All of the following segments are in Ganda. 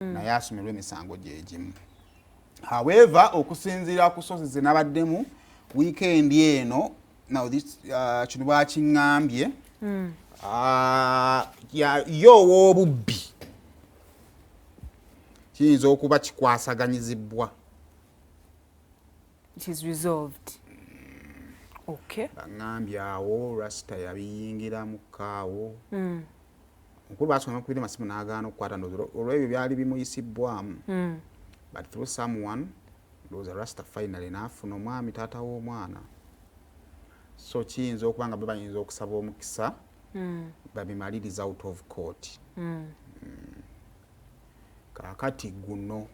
mm. naye asomerwa emisango gyegimu however okusinziira ku sosi zenabaddemu wiikendi eno now this uh, kino bakiŋambye mm. uh, yo ow'obubbi kiyinza okuba kikwasaganyizibwa baŋambye awo rasita yabiyingiramu kaawo mm. mukulu baasonga kubira masimu n'agaana okukwata ndozi olw'ebyo byali bimuyisibbwamu hmm. but through someone ndoza rasta finally n'afuna omwami taata w'omwana so kiyinza okuba nga bebayinza okusaba omukisa hmm. babimaliriza out of court hmm. kaakati guno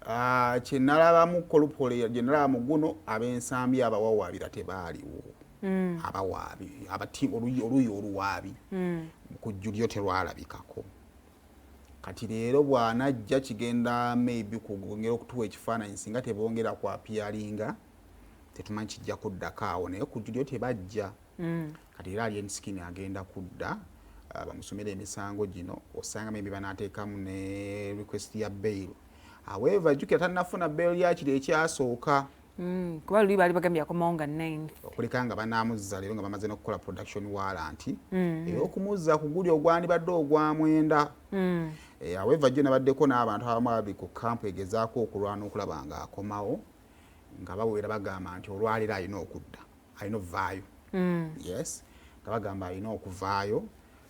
Ah, kyenalabamu kolupole gyenalaba muguno abensambi abawawaabira tebaaliwo mm. abawaabi abati oluyi oluwaabi mm. ku julyo terwalabikako kati leero bwanajja kigenda maybe kugongera okutuwa ekifaananyi singa tebongera kwapiyalinga tetumanyi kijja kuddako awo naye ku julyo tebajja mm. Kati era Alien Skin agenda kudda uh, bamusomera emisango gino osanga maybe banateekamu ne request ya bail however jukira tanafuna bail yakiri ekyasooka mm, kuba luli baali bagambye akomawo nga 9 okuleka nga banamuzza leero nga bamaze nokukola production warrant mm. era okumuzza ku guli ogwandibadde ogwamwenda mm. eh, however jo nabaddeko n'abantu abamu ababi ku kampu egezaako okulwana okulaba nga akomawo nga bawera bagamba nti olwaliro alina okudda alina okuvaayo mm. yes nga bagamba alina okuvaayo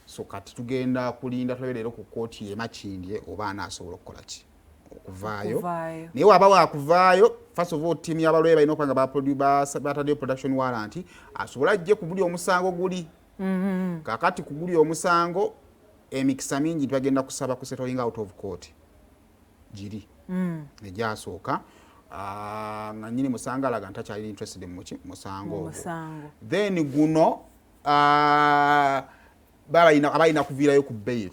so kati tugenda kulinda tulabe leero ku kkooti yemakindye oba anaasobola okukola ki okuvaayo naye waba wakuvaayo first of all tiimu yabalwaye balina okuba nga bataddeyo production warrant asobole ajje ku buli omusango guli mm-hmm. kakati ku guli omusango emikisa mingi bagenda kusaba ku settling out of court giri mm. egyasooka ah, nga nyini musango alaga nti akyali interested muki musango ogwo then guno ah, abalina kuviirayo ku bail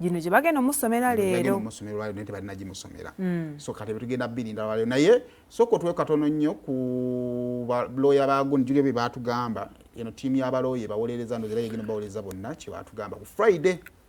gino gye bagenda omusomera leero omusomero lwalero naye tebalina gimusomera mm. so kati betugenda birinda lwalero naye sooka otuwe katono nnyo ku balooya bagun julio bye batugamba eno tiimu y'abalooya ebawolereza nozera yegenda bawolereza bonna kye batugamba ku friday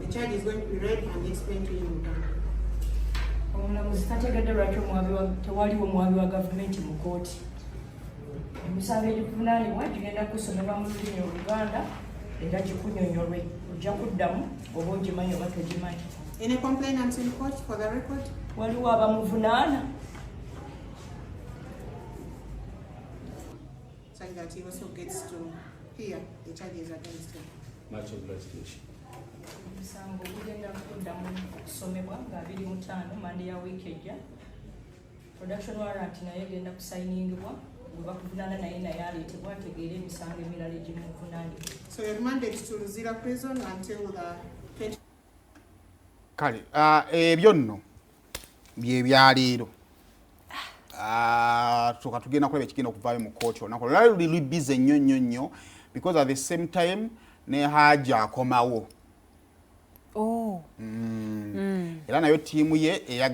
The charge is going to be read and explained to you in Uganda. omulamuzi tategedde lwaki tewaliwo muwabi wa gavumenti mu kooti emisango egikuvunaanibwa gigenda kusomerwa mu lulimi oluganda era gikunyonyolwe ojja kuddamu oba ogimanyi oba togimanyi waliwo abamuvunaana such that he also gets to hear the charges against him. Much obligation. omusango gugenda kuddamu okusomebwa nga abiri mutaano mande ya wiiki ejja production warrant naye egenda kusayiningibwa gwe bakuvunaana naye naye aleetebwa ategeere emisango emirala egimuvunaanibwa So you're remanded to Luzira prison until the kale ah, ebyo nno byebyaleero ah, tuka tugenda kulaba ekigenda okuvaayo mu kooti olunaku olwali luli lubize nnyo nnyo nnyo because at the same time ne haji akomawo oh. mm. mm. era nayo tiimu ye eya